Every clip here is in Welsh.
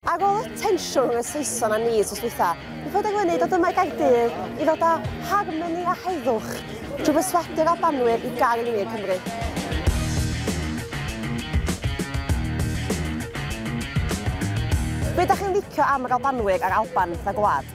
Ar ôl y tensiwn rhwng y Saeson a ni sos dwytha, mi fod yn wneud o dyma i Gaerdydd i ddod â harmoni a heddwch drwy berswadu'r Albanwyr i gael yn wir Cymru. Be da chi'n licio am yr Albanwyr a'r Alban fatha gwlad?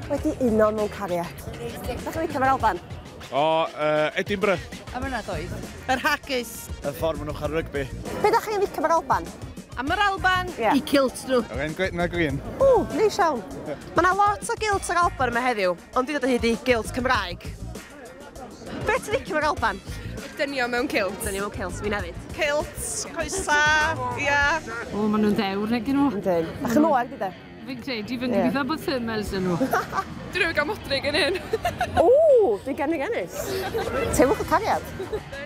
Wedi uno mewn cariad. Dach chi'n licio fe'r Alban? O, uh, Edinburgh. Am yna doedd. Yr haggis. Y ffordd maen nhw'n cael rygbi. Be dach chi'n licio fe'r Alban? Am yr Alban, yeah. i cilt nhw. Yr un gwyn na green. O, neis iawn. Mae yna lot o gilt yr Alban yma heddiw, ond dwi'n dod o hyd i gilt Cymraeg. Be ti'n licio yr Alban? Dynio mewn cilt. Dynio mewn cilt, fi'n hefyd. Cilt, coesa, ia. O, maen nhw'n ddewr, neu gyn nhw. Yndyn. A chyn oer, gyda. Fi'n credu, fi'n yeah. gobeithio bod thermals yn nhw. Dyn nhw'n gael modrig yn hyn. O, fi gen i gennis. Teimwch y cariad.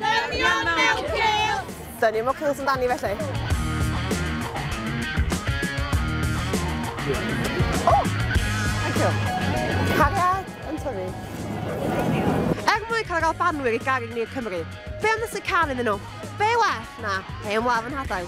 Dynion mewn cael! Dynion mewn cael sy'n dani felly. O! Oh, thank you. Cariad yn tyfu. Er mwyn cael gael banwyr i garu ni'r Cymru, be am nes y can iddyn nhw? Be well na hen wlaf yn hadael?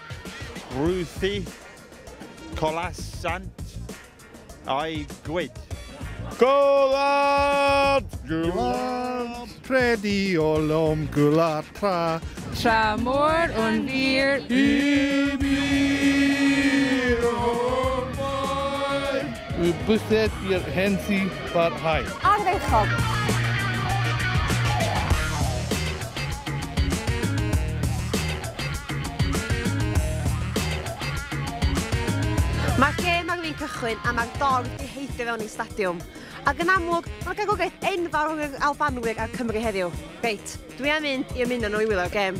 Ruthi, Colas Sant a'i gwyd. Gwlad! Gwlad! Predi o lom gwlad tra. Tra mor o'n wir i mi. Y bysedd i'r hen sy barhau. Ardderchog! Mae'r gêm ar fin cychwyn a mae'r dorf di heidio fewn i'r stadiwm. Ac yn amlwg, mae'r gegwraeth enfawr rhwng yr Albanwyr a'r Cymry heddiw. Reit, dwi am mynd i ymuno nhw i wylio'r gêm.